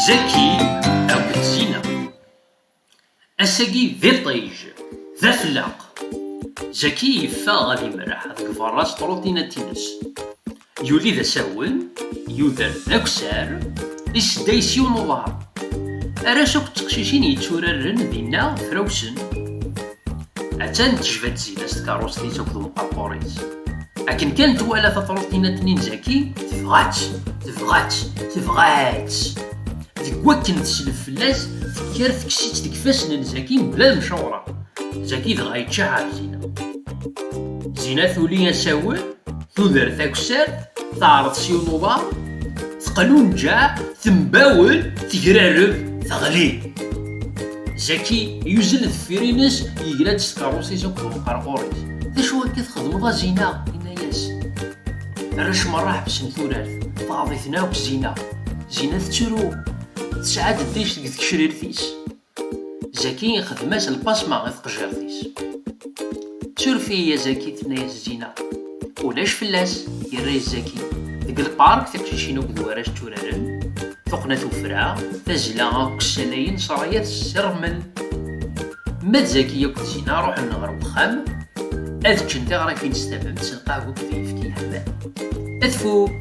Zaki akked Zina Ass-agi d iṭij, d afellaq Zaki yeffeɣ ad imreḥ deg berra s trutinat-ines Yuli d asawen, yuder d aksar Isedday s yiwen uḍar Arrac akked teqcicin yetturaren dinna frawsen Attan tejba-d Zina s tkeṛṛust-is akked umqerqur-is. Akken kan twala tafṛutina n Tnin Zaki, tebɣa-tt, tebɣa-tt, tebɣa-tt. Deg wakken teslef fell-as, tekker tekkes-itt deg ifassen n Zaki mebla lemcawṛa. Zaki dɣa yečča ɣef Zina. Zina tuli asawen, tuder takessart, teɛreḍ s yiwen uḍar, teqlunǧeɛ, tembawel, tegrareb, teɣli. Zaki yuzzel deffir-ines yegra-d s tkeṛṛust-is akked umqerqur-is. D acu akka txedmeḍ a Zina? Yenna-yas. Arrac merra ḥebsen turart. Tɣaḍ-iten akk Zina. Zina tettru. Tesɛa-d ddic deg tgecrirt-is. Zaki ixdem-as lpasma i tqejjirt-is. Suref-iyi a Zaki, tenna-yas Zina. Ulac fell-as, yerra izzaki. Deg lpark, tiqcicin akked warrac tturaren, tuqqna tufra, tazla akk ssalayen sraya tessermel. Ma d Zaki akked Sina ruḥen ɣer uxxam, ad ččen tiɣrifin s tamemt s lqahwa akked yefki yeḥman. Ad tfuk!